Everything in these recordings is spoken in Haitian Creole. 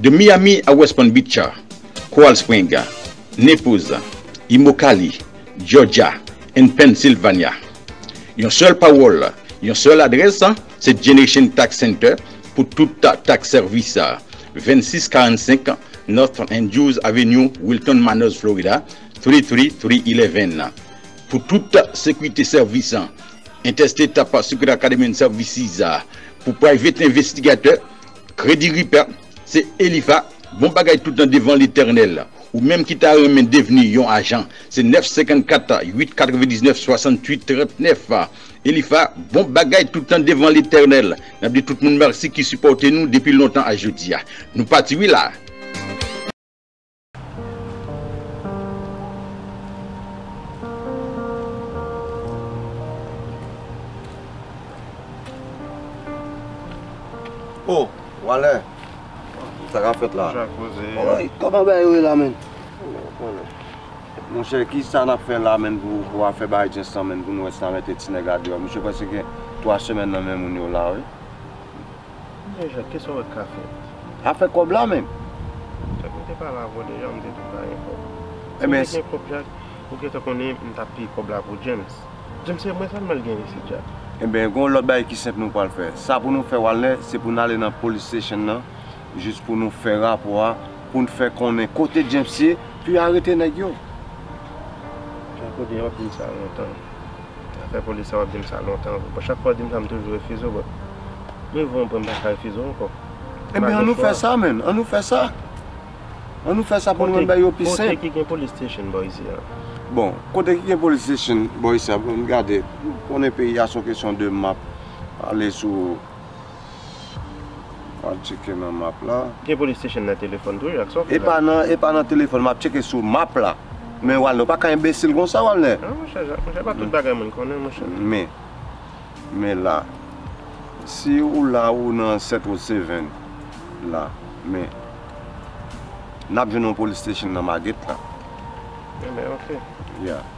De Miami a West Palm Beach, Coral Spring, Naples, Immokalee, Georgia and Pennsylvania. Yon sèl pawòl, yon sèl adrès. Se Generation Tax Center pou tout tax sèvis. 2645 North Andrews Avenue, Wilton Manors, Florida 33311 Pou tout sekirite sèvis. Interstate Tax Security Academy and Services pou private envestigatè. Credit Repair Se Elifa Bon bagay tout nan devan Letènèl. Ou menm ki ta renmen devni yon ajan, se 954 899 68 39. Elifa bon bagay toutan devan letènèl nap di tout moun merci ki sipòte nou depi lontan a jodia nou pati wi la. Oh wale sa kap fèt la. Koman bagay yo ye la menn. Monchè kisa nap fè la menn pou afè bay djens lan menn pou nou wè si nan mete ti nèg la deyò misye prèske gen 3 semèn nan men moun yo la wi. Monchè Jacques kisa ou wè kap fèt. Afè kòb la menn. Jacques mwen te pale avèw deja mwen te diw pa gen kòb. Si mwen te gen kòb Jacques ou gentan konnen m tap peye kòb la pou djens. Djens se mwen sa m al gen isit Jacques. Enben gon lòt bagay ki senp nou pral fè. Sa pou nou fè walner se pou nou ale nan police station nan. jis pou nou fè rapò a pou n fè konnen kote James ye pu arete nèg yo. Chak ou di wap dim sa lontan afè polis sa wap dim sa lontan vre bon chak fwa ou dim sa m toujou refize w but mwen vwe mwen m paka refize w ankò Ebyen an nou fè sa menn an nou fè sa an nou fè sa pou nou wè bagay yo pi senp Kote ki gen police station bò isi a? Bon kote ki gen police station bò isi a pou n gade konnen peyi a son kesyon de map pale sou. Map cheke nan map la. Gen police station nan telefon tou jak sa w fè la. E pa nan telefon map cheke sou map la. Men walner ou pa ka enbesil konsa walner. Nan monchè jak monchè pa tout bagay moun konnen monchè. Men men la si ou la ou nan 7 road 7 la men nap jwenn yon police station nan maget la. Ebyen ok. Ya.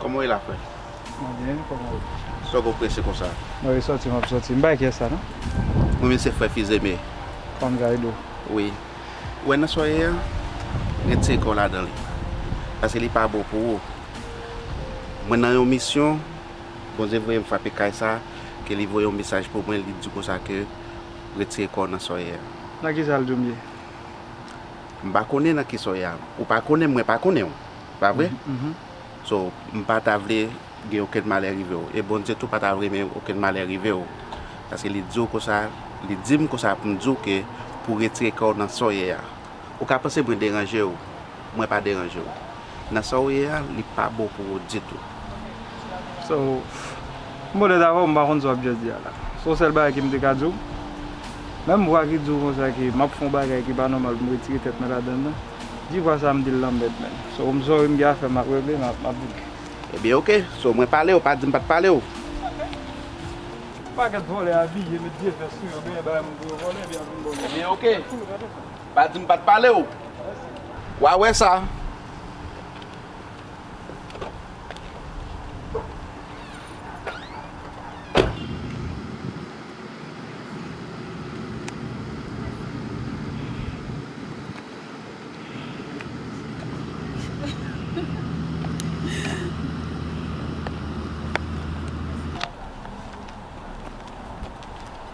Koman w ye la frè? Mwen byen, koman w ye? Sa w gen w prese konsa? Mwen vin soti, m ap soti. M pa wè kiyès sa non. Mwen menm se frè Fils-Aimé. Fanm Gaydo? Wi. Ou wè nan sa w ye a, retire kò w ladan li. Paske li pa bon pou ou. Mwen nan yon misyon, Bondye voye m frape kay sa, ke li voye yon mesaj pou mwen, li di konsa ke, retire kò w nan sa w ye a. Nan kisa l di w m ye? M pa konnen nan kisa w ye a. Ou pa konnen m, mwen pa konnen w. Pa vre? So, m pa ta vle gen okenn malè rive w. E Bondye tou pa ta renmen okenn malè rive w. Paske li di w konsa, li di m konsa pou m di w ke pou w retire kè w nan sa w ye a. Ou ka panse mwen deranje w, mwen pa deranje w. Nan sa ou ye a li pa bon pou ou ditou. So m podet avèw m pa konn sa wap just di a la son sèl bagay kem te ka diw menm vwa ki diw konsa ke map fon bagay ki pa nòmal poum retire tèt mwen ladann nan di vwa sa m dil lanmèd menn so m sorry m gen afèm map regle map vin. Ebyen ok so mwen palew pa dim pat palew. Pakèt vòlè abiye met vye vès sou yo genyen bay moun pou yo vòlè epi yap vin vòlè ebyen ok. Pa di m pa t pale w. W a wè sa.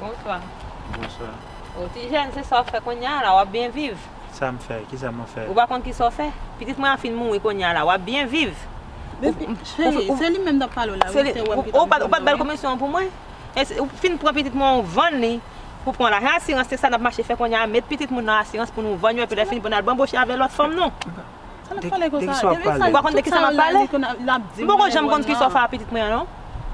Bonswa. Bonswa. O ti jèn, se sa w fè kounye a la, w ap byen viv? Sa m fè? Ki sa mwen fè? Ou pa konn ki sa w fè? Pitit mwen an fin mouri kounye a la, w ap byen viv? Cheri, se li menm n ap pale w la wi, se wè m ki t ap mande w la wi. Ou pa t ba l komisyon an pou mwen? Ou fin pran pitit mwen an ou vann li pou pran lajan asirans, se sa n ap mache fè kounye a, met pitit moun nan asirans pou nou vann yo epi lè fini pou n al banboche avè lòt fanm nou. Sa nap pale konsa? Deki sa wap pale? Ou pa konn deki sa map pale? M poko janm konn ki sofa a pitit mwen an non.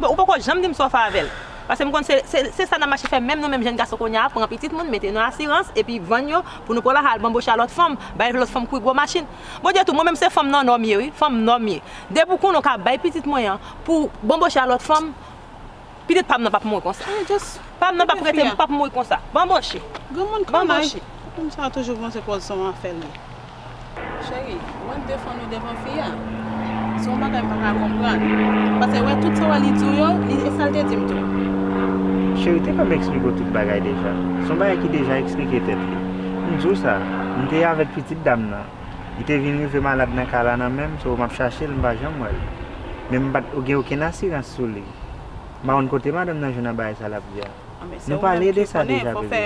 Ou poko janm dim sofa avèl. Pase m konn se sa nap mache fè menm nou menm jèn gason kounya pran pitit moun mete nan asirans epi vann yo pou nou pran la al banboche a lòt fanm, bay lòt fanm kwi gwo machin. Bon di tou mwen menm se fanm nò nò m ye wi, fanm nò m ye. Depi w konnen w ka bay pitit mwen an pou banboche a lòt fanm. Pitit pam nan pap mouri konsa. Pam nan pap rete pap mouri konsa. Banboche. Granmoun kanay. Moun sa toujou panse pòz son afèl li. Cheri, mwen defann ou devan fi a. Se yon bagay m pa ka konprann. Pase wè tout sa wè li di w yo, li e sa l te di m tou. Cheri te konn eksplike w tout bagay deja. Se yon bagay ki deja eksplike tèt li. M di w sa, m te avèk pitit dam nan. Li te vin rive malad nan ka la nan menm so m ap chache l m pa janm wè l. Men m pa t gen okenn asirans sou li. M pa konn kote madanm nan jwenn abay sa l ap di a. Nou pale de sa deja bebe.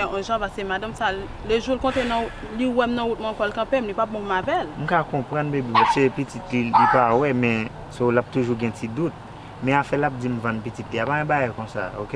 M ka konprann bebe men se pitit li li pa wè men so l ap toujou gen ti dout. Men afè l ap di m vann pitit li a pa gen bagay konsa ok.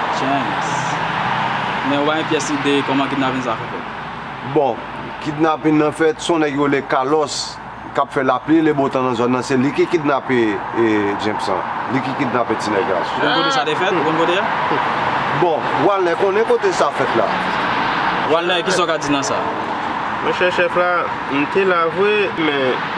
James. Men ou bay pyès ide kòman kidnapin sa fè fèt. Bon, kidnapin nan fèt, son nèg yo rele Carlos kap fè lapli e lebotan nan zòn nan, se li ki kidnape James lan, li ki kidnape ti nèg la. Ou konn kote sa te fèt? Ou konn kote a? Bon, Walner konnen kote sa fèt la. Walner, kisa ou ka di nan sa? Monchè chèf la, m te la vre, men.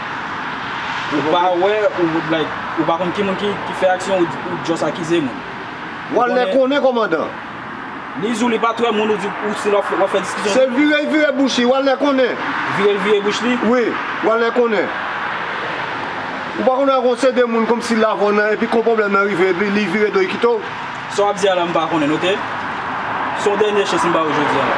Ou pa wè ou like ou pa konn ki moun ki fè aksyon ou just akize moun. Wal lè konnen komandan. Li zou li pat wè moun ou di ou stil wap fè diskisyon. Se vire vire bouch li wal lè konnen. Vire vire bouch li? Wi wal lè konnen. Ou pa konn wè gon se de moun konmsi lavon nan epi kon pwoblèm nan rive epi li vire do li kite w. Sa wap di a la m pa konnen ok. Se yon dènye chans m ba ou jodi a la.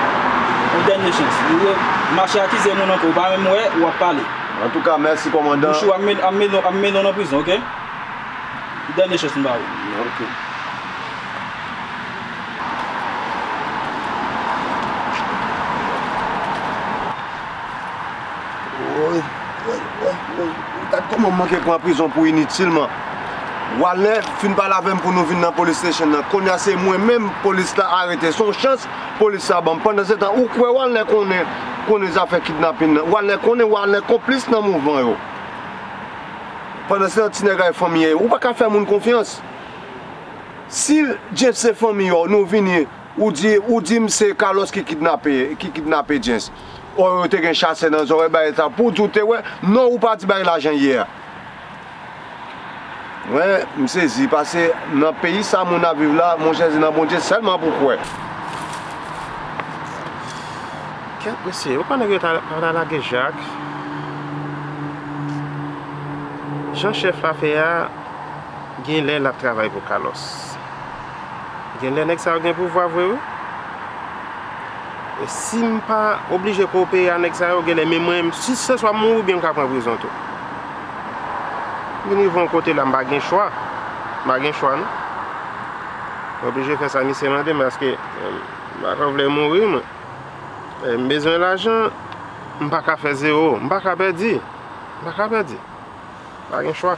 Yon dènye chans. Ou re mache akize moun ankò ou pa menm wè ou ap pale. Antouka mèsi kòmandan. Mouche ap mennen w nan prizon ok. Yon dènye chans m ba ou. Ok. Woy. Woy woy woy gad kòman m manke pran prizon pou initilman Walner fin pale avè m pou nou vin nan police station nan kounya se mwen menm police la arete son chans police sa ban m pandansetan ou kwè Walner konnen konnen zafè kidnapin nan Walner konnen Walner konplis nan mouvman yo pandansetan ti nèg la e fanmiye yo ou pa ka fè moun konfyans si James se fanmiye w nou vini ou di ou di m se Carlos ki kidnape James. Or yo te gen chasè nan zòrèy bagay sa pou di w te wè non ou pati bay lajan yè a. Mwen m sezi pase nan peyi sa moun ap viv la monchè se nan Bondye sèlman pou kwè. Kèt mesye yo pa nèg yo ta lage jak Jan chèf la fè a genlè lap travay pou Carlos. Genlè nèg sa yo gen pouvwa vre wi. Sim pa oblije kopere a nèg sa yo genlè menm mwen si se swa m mouri oubyen m ka pran prizon tou. M vin rive yon kote la m pa gen chwa. M pa gen chwa non. Mwen oblije fè sa misye mande m paske m pa ka vle mouri mwen. M bezwen lajan m pa ka fè zewo. M pa ka pèdi. M pa ka pèdi. M pa gen chwa.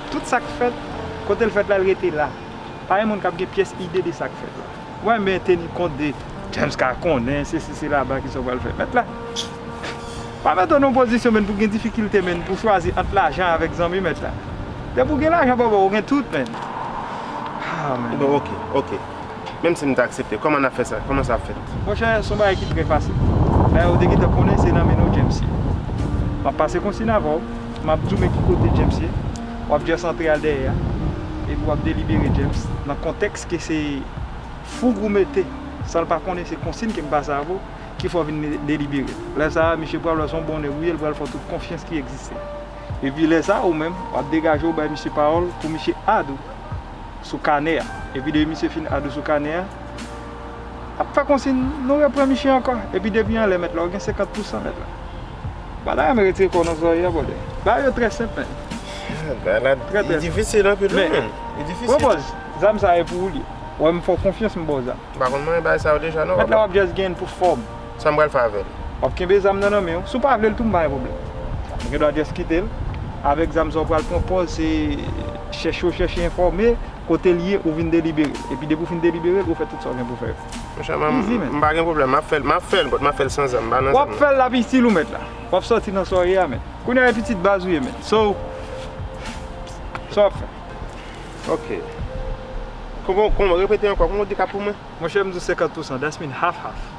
Tout sa k fèt, kote l fèt la l rete la. Pa gen moun k ap gen pyès ide de sa k fèt la. Mwen men teni kont de James ka konnen sesi sela ba kisa w pral fè mèt la. Pa mete w nan yon pozisyon menn pou gen difikilte menn pou chwazi ant lajan avèk zanmi mèt la. Depi w gen lajan bòbò ou gen tout menn. Haa menn. Bon ok, ok. Menm si m ta aksepte, kòman n ap fè sa? Kòman sa ap fèt? Monchè, s on bagay ki trè fasil. Dayè, ou te gentan konnen se nan men nou James ye. M ap pase konsign avè w, m ap di w men ki kote James ye, w ap jès antre al dèyè a, epi w ap delibere James, nan kontèks ke se foug ou mete, san l pa konnen se konsign ke m pase avè w, ki fè w vin delibere l. Lè sa a, misye pral wè s on bon nèg ou ye, l pral fè w tout konfyans ki egziste. Epi lè sa a, ou menm, w ap degaje w bay misye pawòl pou misye add ou. sou kanè a epi depi misye fin adou sou kanè a ap fè konsin nou repran misye ankò epi depi anlè mèt la ou gen 50 pou 100 mèt la ou pa ta renmen retire kòw nan zòrye a bròdè bagay yo trè senp menn bagay la li difisil anpil wi menn li difisil bon bòz zam sa e pou ou l ye wè m fè w konfyans m ba w zam m pa konn manyen bagay sa yo deja non mèt la wap jès genyen l pou fòm. Sam pral fè avèl. Wap kenbe zam nan nan menw. Si w pa vlel tou m pa gen pwoblèm. Mwen gen dwa just kitel. Avèk zam sa w pral pran pòz se chèche w chèche enfòme kotel ye ou vin deliberel. Epi depi w fin deliberel ou fè tout sa w gen pou fè yo. Monchè m pa gen pwoblèm map fèl map fèl but map fèl san zam m pa nan zam nan. Wap fèl lap itil ou mèt la. Wap sòti nan sa w ye a mèt. Kounya e pitit baz ou ye mèt. So sa wap fè. Ok. Kòman repete ankò kòman w di kap pou mwen. Monchè m di w 50 pousan that's mean half half.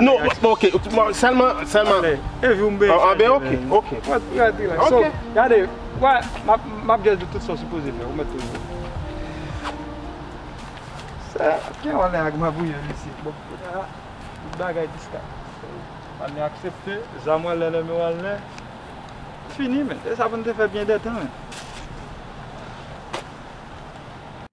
Non, ok, sèlman, sèlman Anben, ok, ok Ok Gade, wè, m ap jès di tout sa w sipoze fè, ou mèt tou jwe Sè, gen yon lè ak mabouye m isi Bon, kounye a, tout bagay diska Anne aksepte, zam w anlè, lèmen w anlè Fini men, se sa pou n te fè byen dètan men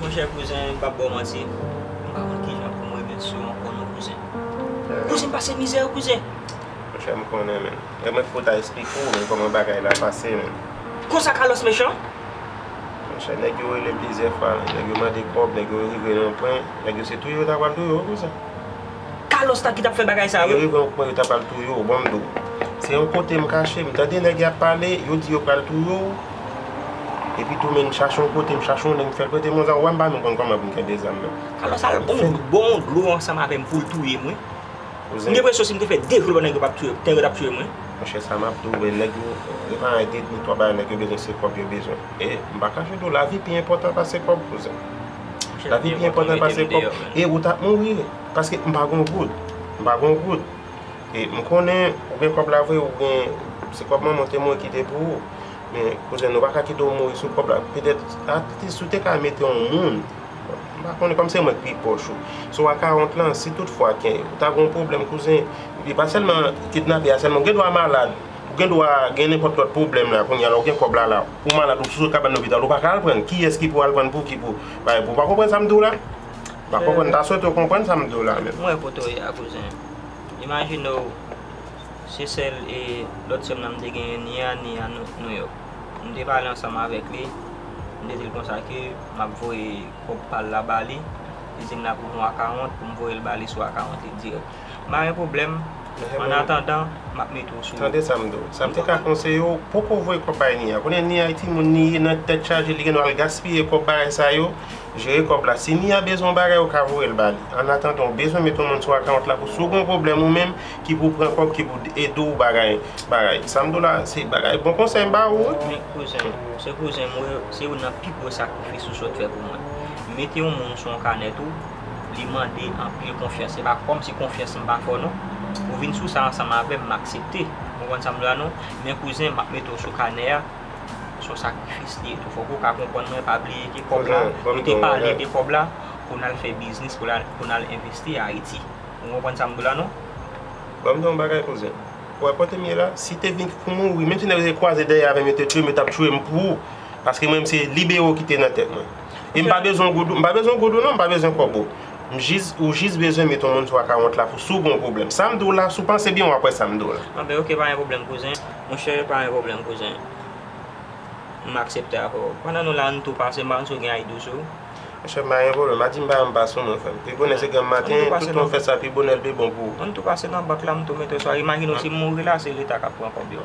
Monchè kouzen m pap baw manti m pa konn kijan poum remet sou ou ankò non kouzen Kouzen m pase mizè wi kouzen. Monchè m konnen men e mwen ki pou ta esplike w men kòman bagay la pase men. Konsa Carlos mechan? Monchè nèg yo rele plizyè fwa nèg yo mande kòb nèg yo rive nan pwen nèg yo se touye yo ta pral touye w wi kouzen. Carlos la ki tap fè bagay sa yo. Yo rive yon pwen yo ta pral touye w bon mdo se yon kote m kache m tande nèg yap pale yo di yo pral touye w epi tou men m chache yon kote m chache yon nèg m fèl prete m yon zam wè m pa menm konn kòman pou m kenbe zam nan. Carlos al bon m bon yon dlo ansanm avè m pou l touye m wi m gen presyon si m te fè 2 jou lò nèg yo pap touye m nèg yo tap touye m wi. Monchè sa map di w vre nèg yo yo pa rete ni 3 bagay nèg yo bezwen se kòb yo bezwen e m pa kache di w lavi pi enpòtan pase kòb kouzen. Lavi pi enpòtan pase kòb. E ou tap mouri paske m pa gon goud. M pa gon goud. E m konnen ou gen kòb la vre, ou gen se kòb manman w te mouri kite pou ou. Men kouzen nou pa ka kite w mouri sou kòb la. Petèt atis si w te ka mete yon moun, m pa konnen kòm se mwen k pi pwòch ou. Sou a 40 lan si tout fwa ke ou ta gon pwoblèm kouzen, epi pa sèlman kidnape a sèlman, ou gen dwa malad. Ou gen dwa gen nenpòt lòt pwoblèm la kounye a la ou gen kòb la la ou malad ou sou kabann lopital ou pa ka al pran l kiyès ki pou al pran l pouki pou bay pou ou pa konprann sa m di w la m pa konprann m ta swete w konprann sa m di w la menm. Mwen wè kote w ye a kouzen imajine w se sèl e lòt sè m nan m te genyen ni a ni a Nouyòk m te pale ansanm avèk li m te di l konsa ke m ap voye kòb pa l la ba li li di m l ap ouvri yon akawont pou m voye l ba li sou akawont li dirèk. Pa gen pwoblèm, an atandan, m ap mete w sou. Tande sa m di w. Sa m te ka konseye w, poko voye kòb bay Nia. Kounye a Nia e timoun li ye nan tèt chaje, li gen dwa al gaspiye kòb bagay sa yo, jere kòb la. Si Nia bezwen yon bagay, ou ka voye l ba li. An atandan, ou bezwen mete yon moun sou akawont la pou si w gen yon pwoblèm ou menm ki pou pran kòb, ki pou ede w bagay, bagay. Sa m di w la, se bagay, bon konsèy m ba ou wi. Men kouzen, ou se kouzen m wi, se youn nan pi gwo sakrifis ou sot fè pou mwen. Mete yon moun sou yon kanè tou, Li mande anpil konfyans. Se pa kòmsi konfyans m pa fò non. Ou vin sou sa ansanm avè m, m aksepte. Ou konprann sa m di w la non? Men kouzen, m ap mete w sou kanè a. Se yon sakrifis li ye tou. Fòk ou ka konprann mwen pa bliye ke kòb la, nou te pale de kòb la pou n al fè biznis, pou n al envesti Ayiti. Ou konprann sa m di w la non? Ban m di w yon bagay kouzen. Ou wè kote m ye la? Si te vin pou mouri, menm si nèg yo te kwaze dèyè avè m, yo te touye m, yo t ap touye m pou ou. Paske mwen menm se libero ki te nan tèt mwen. E m pa bezwen goudou, m pa bezwen goudou non, m pa bezwen kòbo. M jis, ou jis bezwen met yon moun sou akawont la pou si w gen yon pwoblèm. Sa m di w la, si w panse byen w ap wè sa m di w la. Anben ok, pa gen pwoblèm kouzen. Monchè, pa gen pwoblèm kouzen. M aksepte avè w. Pandan nou la, ann tou pase m ba w si w gen Aïdou sou ou. Monchè, pa gen pwoblèm. Adi m pa yon m pa sou mwen frè m. Pi bonè se granm maten, tout moun fè sa pi bonè l pi bon pou ou. Ann tou pase nan bank la m tou mete w sou a. Imajine w si m mouri la, se leta k ap pran kòb yo.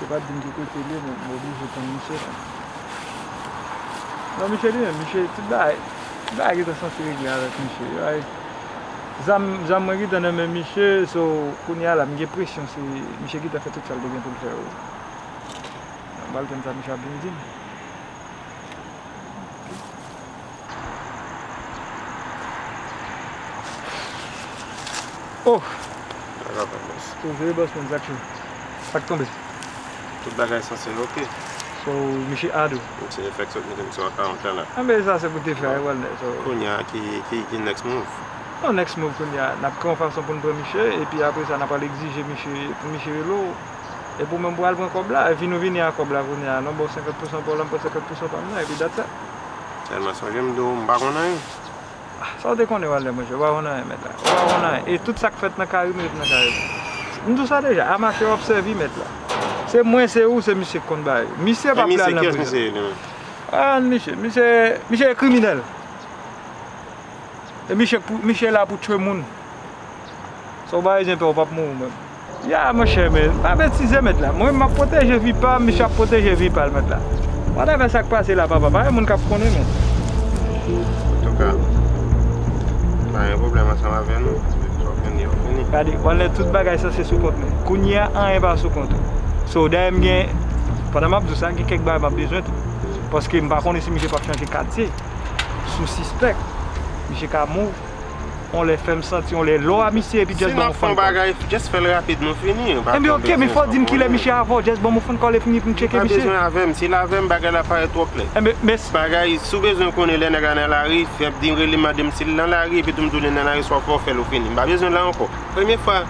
Misye pat dim ki kotel ye men m oblije tann misye la. Non misye li menm, misye tout bagay, tout bagay gentan santi regle avèk misye. Yo bay zam, zam mwen gentan nan men misye so kounya la m gen presyon se misye gentan fè tout sa l te gen pou l fè yo. M pral tann sa misye ap vin dim. Ohh Sa ka fèt boss. Ou veye boss mwen zak yo Pat tonbe. Tout bagay sanse ok. So misye add ou. Ou se fèk sot mete m sou account la la. Anben sa se pou te fè a wèl nè so. Kounya ki next move? Bon next move kounya nap k yon fason poun pran misye epi apre sa nap al egzije misye pou misye rele w epi ou menm pou al pran kòb la epi nou vini a kòb la kounya non bon 50 pousan paw la m pran 50 pousan pam nan epi dat sa. Tèlman sonje m di w m pa konn anyen. Sa w te konnen Walnè monchè? Ou pa konn anyen mèt la. Ou pa konn anyen. E tout sa k fèt nan Karim ret nan Karim. M di w sa deja. A mache w ap sèvi mèt la. Se mwen, se ou, se misye k konn bay. Misye pa vle al nan prizon. Kiyès misye ye li menm? An misye. Misye e kriminèl. E miche pou miche la pou tchwe moun sa ou ba ayizyen pè ou pap mouri menm. Ya monchè men pa betize mèt la mwen map pwoteje vi pam misye ap pwoteje vi pal mèt la whatever sak pase la papa pa gen moun kap konnen mèt. Antouka m pa gen pwoblèm ansanm avè nou depi sa w fini an fini. Gade wal lè tout bagay sanse sou kont mwen kounyea anyen pa sou kont ou so dayè m gen pandan map di w sa gen kèk bagay map bezwen tou paske m pa konnen si misye pap chanje katye. sou sispèk misye ka move yon lè fèm santi yon lè lò a misye epi just banm yon phone call. Si nap fè yon bagay just fèl rapid nou fini. Ebyen ok men fòw dim kilè misye avèw just banm yon phone call epi m tcheke misye. Li pa bezwen avèm sil avèm bagay la ap parèt twò klè. Ebyen mès. Bagay si w bezwen konnen lè nèg la nan lari fè dim relem mandem sil nan lari epitou m diw lè nan lari swa fòw fèl ou fini. M pa bezwen la ankò. Premye fwa.